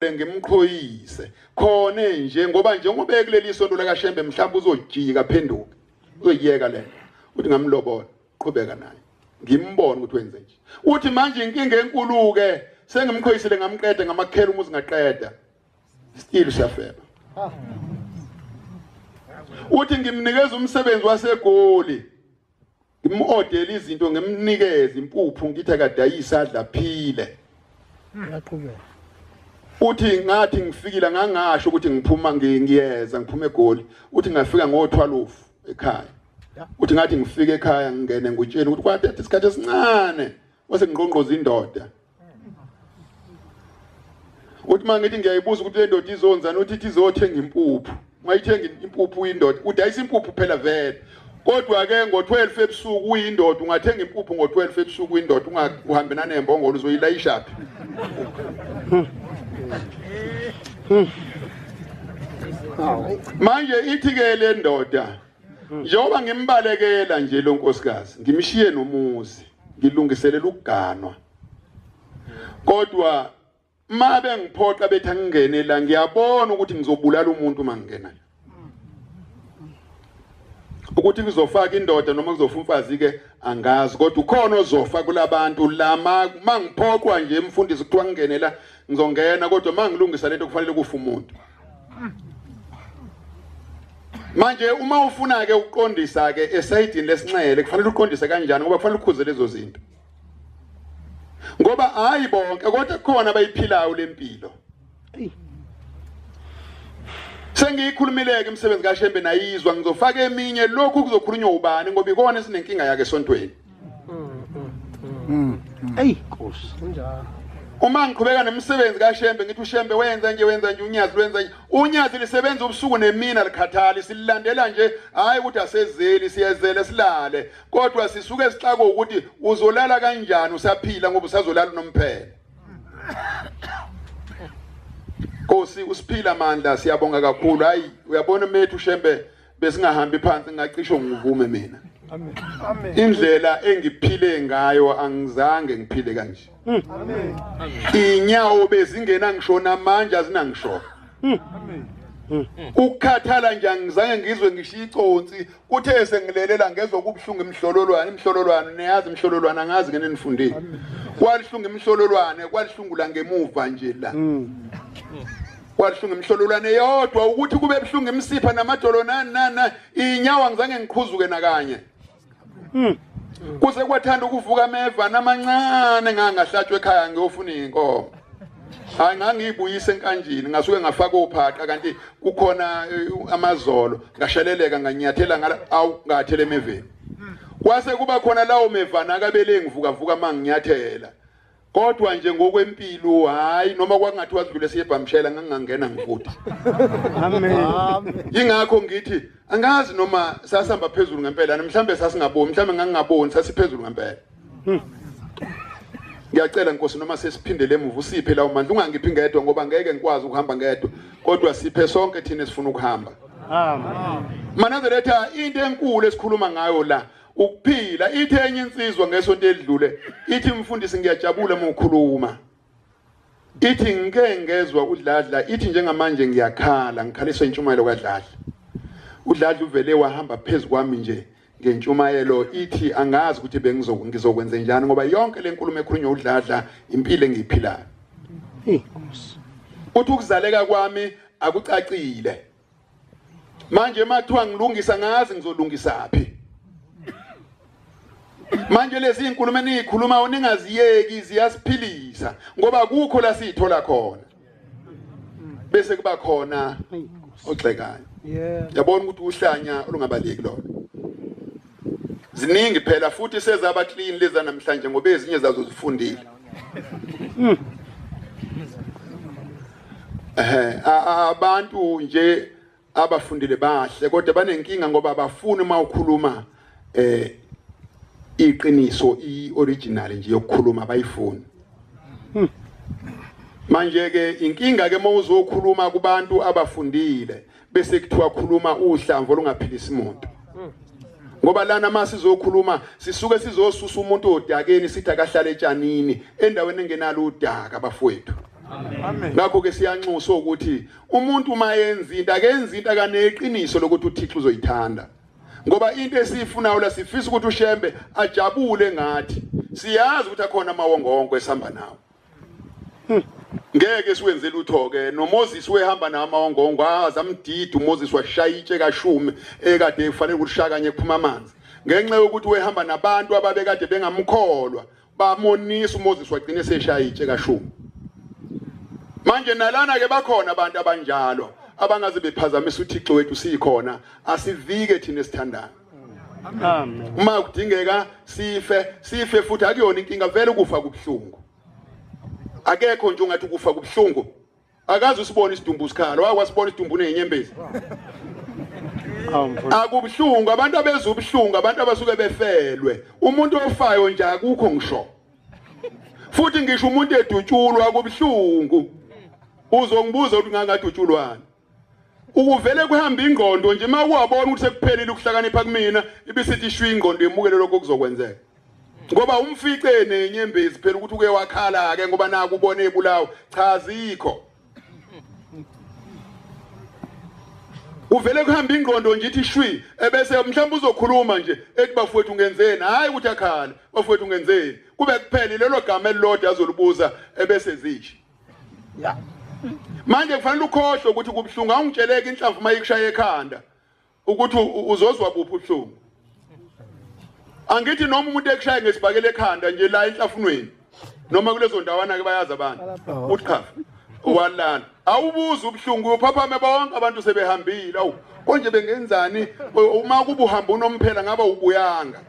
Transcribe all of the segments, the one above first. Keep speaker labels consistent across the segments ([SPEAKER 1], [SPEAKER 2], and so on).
[SPEAKER 1] bengimqhoyise khona nje ngoba njengoba ekuleli sonto lakashembe mhlawumbe uzojika phenduke uzoyiyeka le uthi ngamlobola qhubeka naye ngimbone ukuthi wenze nje uthi manje inkinga enkulu-ke sengimkhoyisile ngamqeda ngamakhela umuzi ngaqeda still siyafeba uthi ngimnikeza umsebenzi wasegoli Ngimodele izinto ngimnikeze impuphu ngithe kadayisa adla phile. Ngiyaqhubeka. Uthi ngathi ngifikile ngangasho ukuthi ngiphuma ngiyeza ngiphuma eGoli. Uthi ngafika ngo-12 ekhaya. Uthi ngathi ngifike ekhaya ngingene ngutsheni ukuthi kwathatha isikhathi esincane wase ngqongqoza indoda. uthi uma ngithi ngiyayibuza ukuthi le ndoda izonzani uthi ithi izothenga impuphu uma ithenga impuphu uyindoda udayisa impuphu phela vele kodwa-ke ngo-12 ebusuku uyindoda ungathenga impuphu ngo-12 ebusuku uyindoda ungahambe nanembongolo uzoyilayishaphi manje ithi-ke le ndoda njengoba ngimbalekela nje lo nkosikazi ngimshiye nomuzi ngilungiselela ukuganwa kodwa ma bengiphoqa bethi angingene la ngiyabona ukuthi ngizobulala umuntu uma ngingena la ukuthi kuzofaka indoda noma kuzofa umfazi ke angazi kodwa ukhona ozofa kulabantu lama mangiphoqwa nje mfundisi kuthiwa ngingenela ngizongena kodwa mangilungisa lento kufanele kufa umuntu manje uma ufuna ke ukuqondisa ke esayidini lesinxele kufanele uqondise kanjani ngoba kufanele ukhuze lezo zinto ngoba hayi bonke kodwa khona bayiphilayo lempilo sengiyikhulumileke imisebenzi kaShembe nayizwa ngizofaka eminye lokhu kuzokhulunywa ubani ngoba ikona esinenkinga yake esontweni
[SPEAKER 2] eyi nkosi kunjalo uma ngiqhubeka
[SPEAKER 1] nemisebenzi kashembe ngithi ushembe wenza nje wenza nje unyazi lwenza nje unyazi lisebenza ubusuku nemina likhathali sililandela nje hhayi ukuthi asezeli siyezele silale kodwa sisuke sixako ukuthi uzolala kanjani usaphila ngoba usazolala unomphela Nkosi usiphila amandla siyabonga kakhulu hayi uyabona methu shembe besingahambi phansi ngacisho ngivume mina amen
[SPEAKER 2] indlela
[SPEAKER 1] engiphile ngayo angizange ngiphile kanje
[SPEAKER 2] hmm. amen inyawo
[SPEAKER 1] bezingena ngishona manje azinangisho hmm. amen hmm. ukukhathala nje angizange ngizwe ngisho iconsi kuthe sengilelela ngezwa kubuhlungu imhlololwane imhlololwane niyazi imhlololwane angazi ngene nifundile kwalihlungu imhlololwane kwalihlungula ngemuva nje la kwabuhlungu imhlololwane yodwa ukuthi kube buhlungu imsipha namadolo nani nani inyawo angizange ngiqhuzuke nakanye hmm. kuze kwathanda ukuvuka ameva namancane ngangahlatshwa ekhaya ngiyofuna inkomo hayi ngangiyibuyise enkanjini ngasuke ngafaka ophaqa kanti kukhona eh, amazolo ngasheleleka nganyathela ngala awu ngathele emeveni hmm. kwase kuba khona lawo mevana akabele ngivuka vuka manginyathela Kodwa nje ngokwempilo hayi noma kwakungathi wadlule siyebhamshela ngangangena ngifuthi. Amen.
[SPEAKER 2] Ingakho
[SPEAKER 1] ngithi angazi noma sasihamba phezulu ngempela mhlambe sasingaboni mhlambe ngangingaboni sasiphezulu ngempela. Hmm. Ngiyacela Nkosi noma sesiphindele emuva usiphe lawo mandla ungangiphi ngedwa ngoba ngeke ngikwazi ukuhamba ngedwa kodwa siphe sonke thina esifuna ukuhamba. Amen.
[SPEAKER 2] Manazeretha
[SPEAKER 1] into enkulu esikhuluma ngayo la ukuphila ithe enye insizwa ngesonto edlule ithi mfundisi ngiyajabula uma ukhuluma ithi ngike ngezwa udladla ithi njengamanje ngiyakhala ngikhaliswa intshumayelo kadladla udladla uvele wahamba phezu kwami nje ngentshumayelo ithi angazi ukuthi bengizokwenze njani ngoba yonke le nkulumo ekhulunywa udladla impilo engiyiphilayo
[SPEAKER 2] uthi
[SPEAKER 1] ukuzaleka kwami akucacile manje mathiwa ngilungisa ngazi ngizolungisa phi manje lezi inkulumo eniyikhulumayo ningaziyeki ziyasiphilisa ngoba kukho la siyithola khona bese kuba khona ogxekayo yabona ukuthi uhlanya olungabaleki lona ziningi phela futhi sezaba clean leza namhlanje ngoba ezinye zazo zifundile hmm. eh abantu nje abafundile bahle kodwa banenkinga ngoba abafuni uma ukhuluma eh iqiniso ioriginal nje yokukhuluma bayifuni hmm. manje ke inkinga ke mawuzokhuluma kubantu abafundile bese kuthiwa khuluma uhlamvu olungaphilisa imoto ngoba lana uma sizokhuluma sisuke sizosusa umuntu odakeni sithi akahlale etshanini endaweni engenalo udaka bafowethu
[SPEAKER 2] ngakho ke
[SPEAKER 1] siyanxusa ukuthi umuntu uma yenza into akenza into akaneqiniso lokuthi uthixo uzoyithanda ngoba into esiyifunayo la sifisa ukuthi ushembe ajabule ngathi siyazi ukuthi akhona amawongonko esihamba nawo Hmm. ngeke siwenze lutho ke noMoses wehamba nama ongongo azamdida uMoses washaya itshe kashume ekade efanele ukushaya kanye kuphuma amanzi ngenxa yokuthi wehamba nabantu ababekade bengamkholwa bamonisa uMoses wagcina eseshaya itshe kashume manje nalana ke bakhona abantu abanjalo abangaze bephazamisa uThixo wethu sikhona asivike thina esithandayo
[SPEAKER 2] uma kudingeka
[SPEAKER 1] sife sife futhi akuyona inkinga vele ukufa kubuhlungu akekho nje ungathi ukufa kubuhlungu akazi usibona isidumbu sikhala wakwasibona isidumbu nenyembezi akubuhlungu abantu abeza ubuhlungu abantu abasuke befelwe umuntu ofayo nje akukho ngisho futhi ngisho umuntu edutshulwa kubuhlungu uzongibuza ukuthi ngangadutshulwani ukuvele kuhamba ingqondo nje uma kuwabona ukuthi sekuphelile ukuhlakanipha kumina ibisithi ishwa ingqondo yemukele lokho kuzokwenzeka ngoba umfice nenyembezi phela ukuthi uke wakhala ke ngoba naku ubone ebulawa cha zikho uvele kuhamba ingqondo nje ithi shwi ebese mhlawumbe uzokhuluma nje ethi bafowethu ungenzeni hayi ukuthi akhala bafowethu ungenzeni kube kuphele lelo gama elilodwa azolibuza ebese zithi ya
[SPEAKER 2] manje
[SPEAKER 1] kufanele ukhohlwe ukuthi kubuhlungu awungitsheleke inhlamvu uma ikushaye ekhanda ukuthi uzozwa buphi ubuhlungu angithi noma umuntu ekushaye ngesibhakele ekhanda nje la enhlafunweni noma kulezo ndawana ke bayazi abantu uthi cha walana awubuza ubuhlungu uyophaphame bonke abantu sebehambile awu konje bengenzani uma kubuhamba unomphela ngaba ubuyanga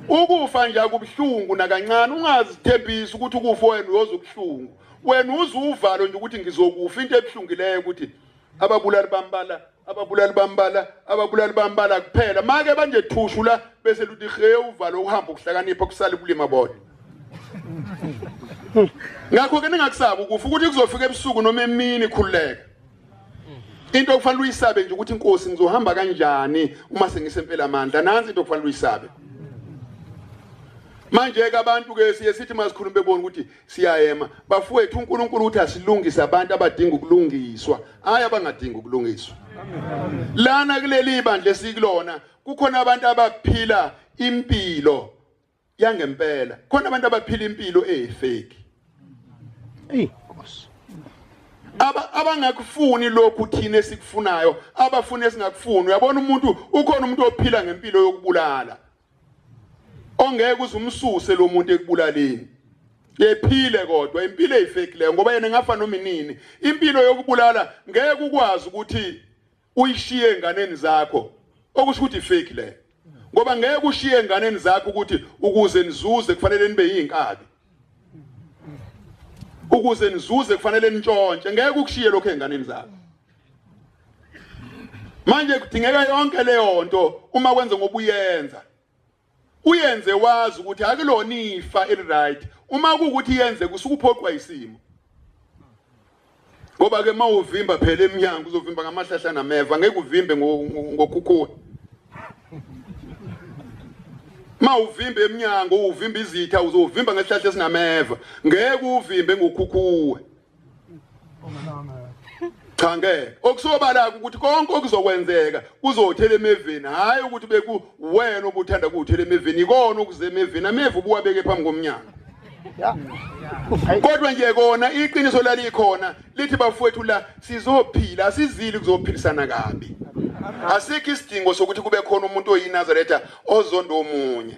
[SPEAKER 1] ukufa nje akubuhlungu nakancane ungazithembisi ukuthi ukufa wena uyoza ubuhlungu wena uze uvalo nje ukuthi ngizokufa into ebuhlungileyo ukuthi ababulali bambala ababulali bambala ababulali bambala kuphela make banje thushu la bese luthi he uvalo uhamba ukuhlakanipha kusale ubulima bodwa ngakho ke ningakusaba ukufa ukuthi kuzofika ebusuku noma emini khululeka into okufanele uyisabe nje ukuthi inkosi ngizohamba kanjani uma sengisempela amandla nansi into okufanele uyisabe manje ke abantu ke siye sithi masikhulume bebona ukuthi siyayema bafowethu uNkulunkulu uthi asilungise abantu abadinga ukulungiswa hayi abangadingi ukulungiswa lana kuleli bandla esikulona kukhona abantu abaphila impilo yangempela khona abantu abaphila impilo eyifeki hey nkosi
[SPEAKER 2] aba abangakufuni
[SPEAKER 1] lokhu thina esikufunayo abafuna esingakufuni uyabona umuntu ukhona umuntu ophila ngempilo yokubulala ongeke uzumsuse lo muntu ekubulaleni yephile kodwa impilo eyifakileyo ngoba yena ngafa noma inini impilo yokubulala ngeke ukwazi ukuthi uyishiye enganeni zakho okusho ukuthi fake le ngoba ngeke ushiye enganeni zakho ukuthi ukuze nizuze kufanele nibe yinkabi ukuze nizuze kufanele nitshontshe ngeke ukushiye lokho enganeni zakho manje kudingeka yonke leyo nto uma kwenze ngobuyenza uyenze wazi ukuthi akulona ifa eliright uma kuwukuthi yenze kusukuphoqwa isimo ngoba ke mawuvimba phela eminyango uzovimba ngamahlahla nameva ngeke uvimbe ngokhukhuwa mawuvimba eminyango uvimba izitha uzovimba ngesihlahla esinameva ngeke uvimbe ngokhukhuwa cha ngeke okusobala ukuthi konke okuzokwenzeka kuzothela emeveni hhayi ukuthi beku wena obuthanda kuwuthela emeveni ikona okuze emeveni ameva ubuwabeke phambi komnyango kodwa nje kona iqiniso lalikhona lithi bafowethu la sizophila asizili kuzophilisana kabi asikho isidingo sokuthi kube khona umuntu oyinazaretha ozondo omunye